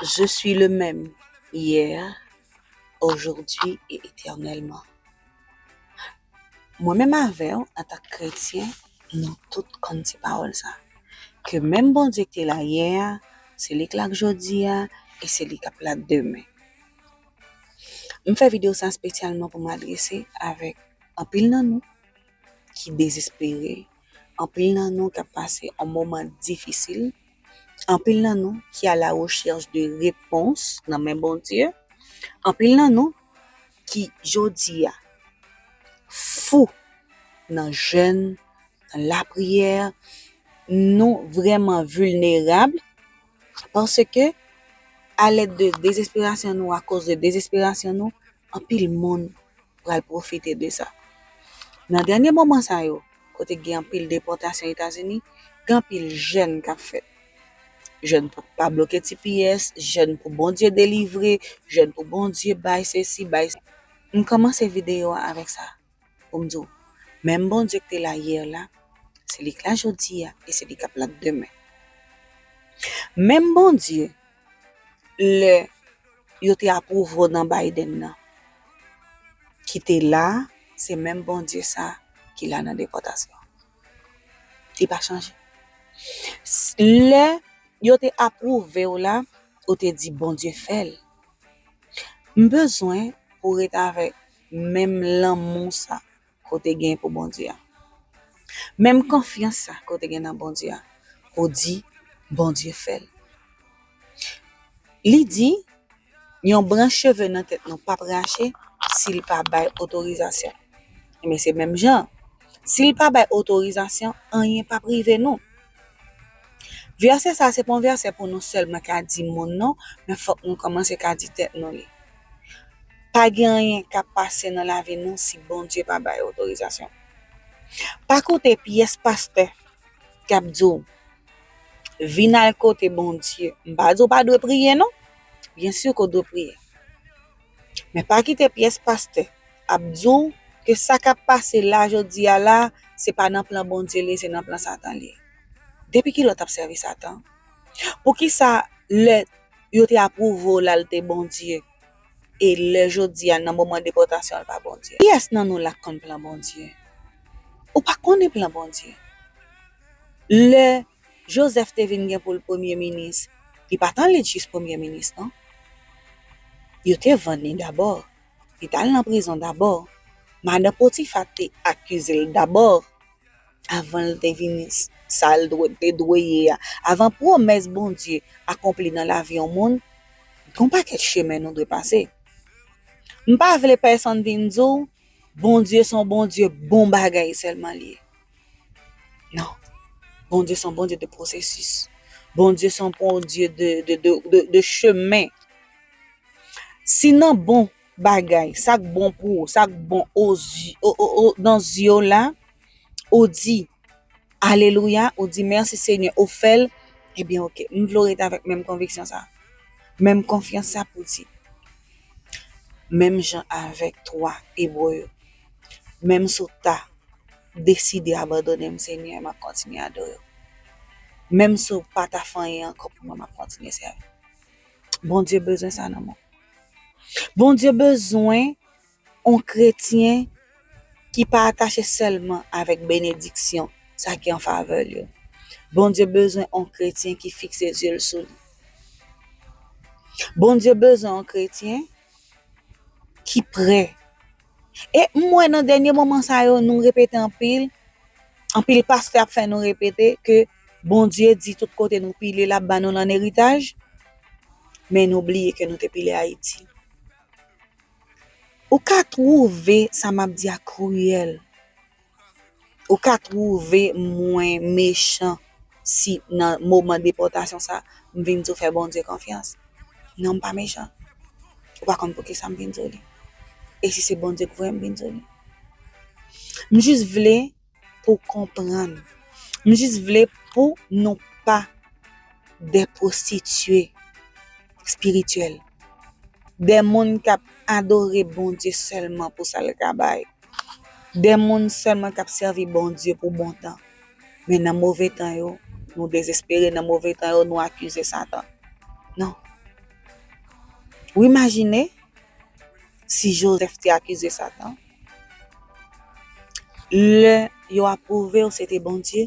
Je suis le même hier, aujourd'hui et éternellement. Mwen menm avè w an tan k kretyen nou tout konn ti pawòl sa. Ke menm Bondye k te la yè a, se li k la jodi a e se li k ap la demen. M fè video sa spesyalman pou m adrese avèk anpil nan nou ki dezespere, anpil nan nou k ap pase yon moman difisil, Anpil nan nou ki a la recherche de repons nan men Bondye, anpil nan nou ki jodi a fou nan jèn, nan lapriyè, nou vrèman vilnerab paske alèd de dezesperasyon nou, akoz de dezesperasyon nou, anpil moun pral pwofite de sa. Nan dènye moman sa yo, kote gen anpil depòtasyon Etazini, gen anpil jèn k ap fèt. Jèn pou pa bloke tps, jèn pou Bondye delivre, jèn pou Bondye bay sesi, bay sa. M kòmanse videyo a avèk sa pou m di w, menm Bondye k te la yè la, se li k la jodi a e se li k ap la demen. Menm Bondye. lè yo te ap ouvro nan Biden nan ki te la se menm Bondye sa ki la nan depòtasyon li pa chanje lè yo te ap pwouve w la ou te di Bondye fèl m bezwen ou ret avèk menm lanmou sa ke w te gen pou Bondye a. Menm konfyans sa ke w te gen nan Bondye a, ou di Bondye fè l. Li di, yon branch cheve nan tèt nou pap rache si l pa bay otorizasyon. Enben se menm jan, si l pa bay otorizasyon, anyen pap rive nou. Vèsè sa se pa yon vèsè pou nou sèlman ka di moun non, men fòk nou kòmanse ka di tèt nou li. Pa gen anyen k ap pase nan lavi nou si Bondye pa bay otorizasyon. Pa koute pyès pastè k ap di w vin al kote Bondye, m pa di w pa dwe priye non, byensi ke w dwe priye, Men pa kite pyès pastè ap di w ke sa k ap pase la jodi a la, se pa nan plan Bondye li ye, se nan plan Satan li ye. Depi ki lè w t ap sèvi Satan? Poukisa lè yo te apwouve w la l te Bondye, e lè jodi a nan moman depòtasyon l pa Bondye? Kiyès nan nou la k konn plan Bondye? Ou pa konnen plan Bondye. Lè. Joseph te vin gen poul premye minis li pat an lit jis premye minis non yo te vann li dabò li tal nan prizon dabò madan potifa te akizel dabò avanl te vin sal te dwe ye a avan pwomès Bondye akonpli nan lavi yon moun gon pakèt chemen nou dwe pase mpa vle pèsonn vin diw Bondye son Bondye bon bagay sèlman liye. Non. Bondye son Bondye de pwosesis. Bondye son Bondye de chemen. Si nan bon bagay, sak bon pou ou, sak bon nan zye w la, ou di, alelouya, ou di mèsi Senyè, ou fè l, ebyen ok, m vle w rete avèk menm konviksyon sa, menm konfyans sa pou w di, menm jan avèk 3 Ebre yo. Menm si w ta deside abandone m Senyè map kontinye adore w. Menm si w pa ta fè anyen ankò pou mwen map kontinye sèvi w. Bondye bezwen sa nan mwen. Bondye bezwen on kretyen ki pa atache sèlman avèk benediksyon sa ki an favè l yo. Bondye bezwen on kretyen ki fikse zye l sou li. Bondye bezwen on kretyen ki prè. E m wè nan dènye moman sa yo nou repete anpil, anpil pastè ap fè nou repete ke Bondye di tout kote nou pile l ap ba nou l an eritaj, men nou bliye ke nou te pile Ayiti. Ou ka twouve sa m ap di a kriyèl, Ou ka twouve mwen mechan si nan moman depòtasyon sa, m vin di w fè Bondye konfyans? Non, m pa mechan. Ou pa konn poukisa m vin di w li. E si se Bondye ki voye m vin di w li? M jis vle pou w konprann. M jis vle pou nou pa de pwostitye. spirityèl, de moun k ap adore Bondye sèlman pou sa l ka bay, de moun sèlman k ap sèvi Bondye pou bon tan. Men nan move tan yo, nou dezespere, nan move tan yo, nou akize Satan. Non. Ou imajine si Jozèf te akize Satan? Lè yo ap pwouve ou se te Bondye,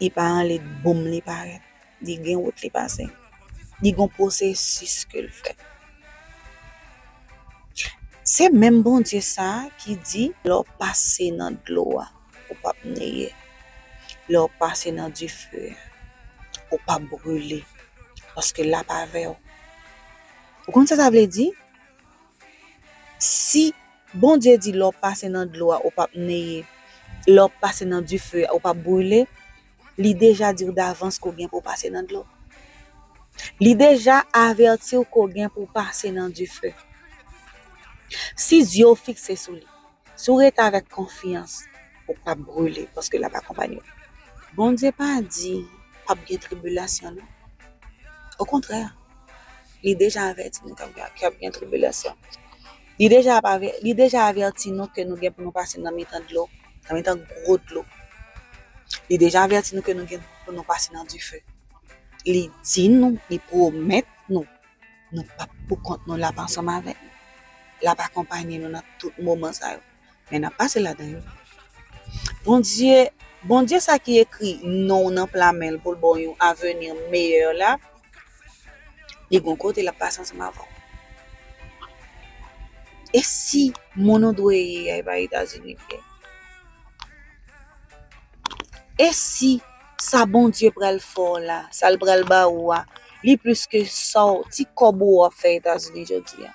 Li pa anle boum li parèt. Li gen wout li pase. Li gon pwosesis ke l fè. Se menm Bondye sa a ki di lè w pase nan dlo a, ou pap neye. Lè w pase nan dife a, ou pap brule paske l ap avè w. Ou konn sa sa vle di? Si Bondye di lè w pase nan dlo a ou p ap neye, lè w pase nan dife a ou p ap brile, li deja di w davans ke w gen pou w pase nan dlo. Li deja avèti w ke w gen pou w pase nan dife. Si zye w fikse sou li, si w rete avèk konfyans, ou p ap brile paske l ap akonpanye w. Bondye pa di p ap gen tribilasyon non. Okontrè, li deja avèti nou ke ap gen tribilasyon. Li deja avèti nou ke nou gen pou nou pase nan mitan dlo, nan mitan gwo dlo. Li deja avèti nou ke nou gen pou nou pase nan dife. Li di nou, li pwomèt nou, nou pap pou kont nou, l ap ansanm avèk nou, l ap akonpanye nou nan tout moman sa yo. Men nap pase ladan yo. Bondye, Bondye sa ki ekri non w nan pla men l pou l ba w yon aveni meyè la, li gon kote l ap pase ansanm avè w. E si moun ou dwe ye a e pa Etazini li ye? E si sa Bondye pral fè w la, sa l pral ba ou a, li plis ke sa w, ti kòb ou ap fè Etazini jodi a?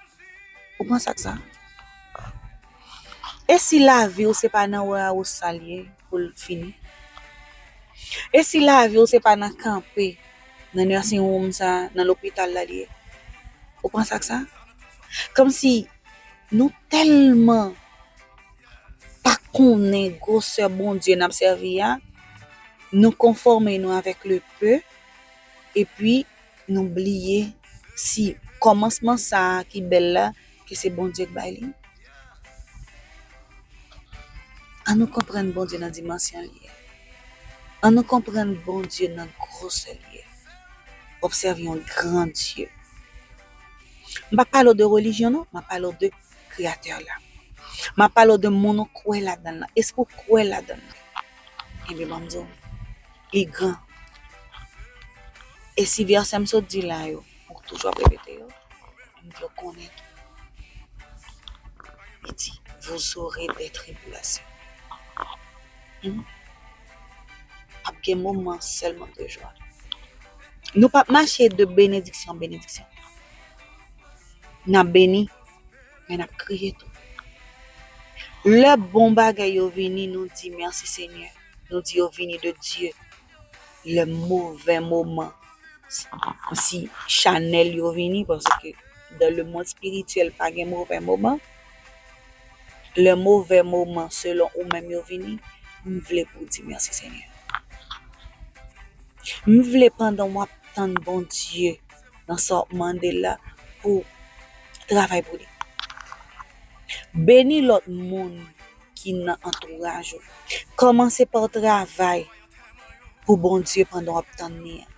Ou panse ak sa? E si lavi w se pa nan wawousa l ye pou l fini? E si lavi w se pa nan kanpe nan nursing home sa, nan lopital la l ye? Ou panse ak sa? Kòmsi nou tèlman pa konnen gwosè Bondye n ap sèvi a, nou konfòme nou avèk le peu epi nou bliye si kòmansman sa ki bèl la Ke se Bondye k bay li. An nou konprann Bondye nan dimansyon li ye. An nou konprann Bondye nan gwosè li ye. Obsève yon gran Dye. M pa pale w de relijyon non, m ap pale w de Kreyatè la. M ap pale w de moun ou kwè ladan l lan. Èske w kwè ladan l? Ebyen ban m di w, li gran. E si vèsè m sot di la yo, ou toujou ap repete yo? Moun yo konnen li di vous aurez des tribulations humm ap gen moman sèlman de jwa nou pap mache de benediksyon an benediksyon nap beni men nap kriye tou lè bon bagay yo vini nou di merci seigneur nou di yo vini de Dieu lè movè moman si chanèl yo vini paske dan le mond spirityèl pa gen movè moman lè movè moman selon ou menm yo vini m vle pou di mèsi senyè m vle pandan w ap tann Bondye nan sa w ap mande l la pou travay pou li beni lòt moun ki nan antouraj ou. Kòmanse pa w travay pou Bondye pandan w ap tann li an.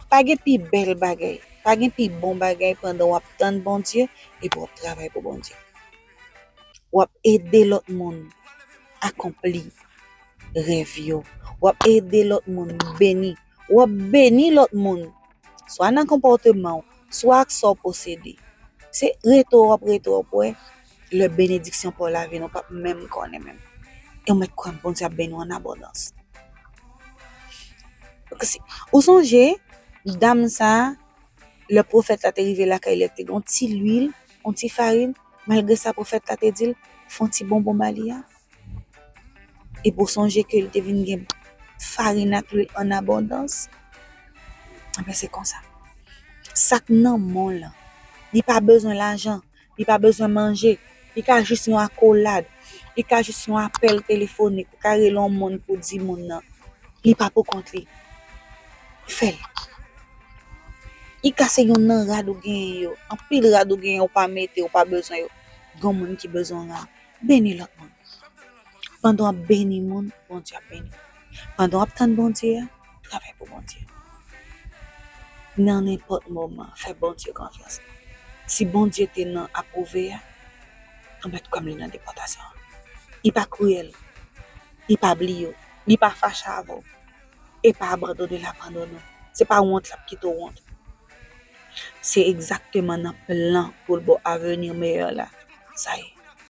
Pa gen pi bèl bagay, pa gen pi bon bagay pandan w ap tann Bondye epi w ap travay pou Bondye. W ap ede lòt moun akonpli rèv yo, w ap ede lòt moun beni, w ap beni lòt moun. swa nan konpòteman ou, swa ak sa w posede. Se rete w ap rete w ap wè, lè benediksyon pa w la vini, ou pap menm konnen menm. E ou mèt kwè Bondye ap beni w an abondans. Ou sonje, dam sa, lè pwofèt la te rive lakay li, li te gen yon ti luil, yon ti farin, malgre sa pwofèt la te di l, fè yon ti bonbon ba li a. Epi w sonje ke li te vin gen farin ak lwil an abondans, anben se konsa. Sa k nan men w lan, li pa bezwen lajan, li pa bezwen manje, li ka jis yon akolad, li ka jis yon apèl telefonik, ou ka rele yon moun pou w di moun nan li pa pou kont li. Fè l. Li ka se youn nan rad ou genyen yo, anpil rad ou genyen ou pa mete, ou pa bezwen yo, gen yon moun ki bezwen rad. Beni lòt moun. Pandan w ap beni moun, Bondye ap beni w. Pandan w ap tann Bondye a, travay pou Bondye. Nan nenpòt moman, fè Bondye konfyans. Si Bondye te nan apwouve a, anba dkòm li nan depòtasyon an. Li pa kriyèl, li pa bliye w, li pa fache avè w, e pa abandone l abandone w. Se pa wont l ap kite w wont. Se egzakteman nan plan pou l ba w aveni meyè la sa ye.